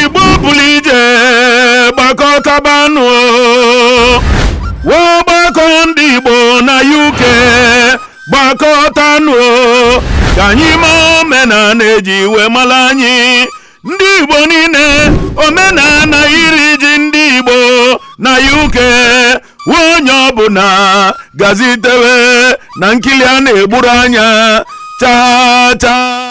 igbo pụlụ ije gbakọtabanụ ọgbakọ ndị igbo na uk gbakọtanụ ka anyị ma omenala eji wee mara anyị ndị igbo niile omenala iri ji ndị igbo na uk onye ọbụla gazitewe na nkili a na-egburu anya chaa chaa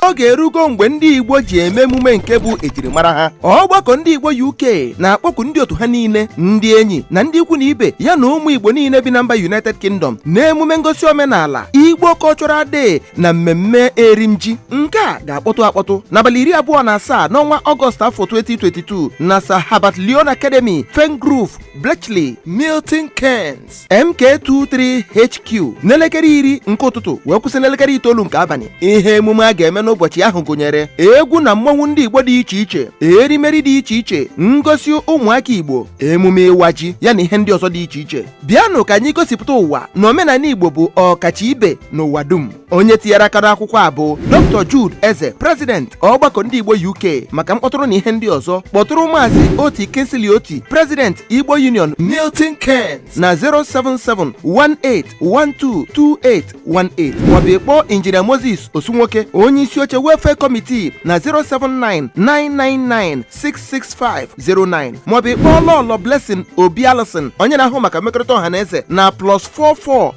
oge erugo mgbe ndị Igbo ji eme emume nke bụ ejirimara ha ọgbakọ ndị Igbo UK na-akpọku ndị otu ha niile ndị enyi na ndị ikwu na ibe ya na ụmụ Igbo niile bi na mba United Kingdom na emume ngosi omenala Igbo Cultural Day na mmemme erimji nke a ga-akpọtụ akpọtụ n'abalị iri abụọ na asaa n'ọnwa Ọgọst afọ 2022 na Sir Herbert Leon Academy Fern Grove Bletchley Milton Keynes MK2 3HQ n'elekere iri nke ụtụtụ wee kwụsị n'elekere itoolu nke abalị ihe emume a ga-eme n'ụbọchị ahụ gụnyere egwu na mmọnwụ ndị Igbo dị iche iche erimeri dị iche iche ngosi ụmụaka Igbo emume ịwa ji ya na ihe ndị ọzọ dị iche iche bịanụ ka anyị gosipụta ụwa na omenala Igbo bụ ọkacha ibe n'ụwa dum onye tinyere aka n'akwụkwọ a bụ dr jude eze prezident ọgbakọ ndị igbo uk maka mkpọtụrụ na ihe ndị ọzọ kpọtụrụ maazị oti kingsley oti prezident igbo union milton keynes na 07718122818 maọbụ ịkpọ injinia moses osunwoke onye isi oche welfare kọmitii na 07999966509 maọbụ ịkpọ lọlọ blessing obi alison onye na-ahụ maka mmekọrịta ọha na eze na plus 44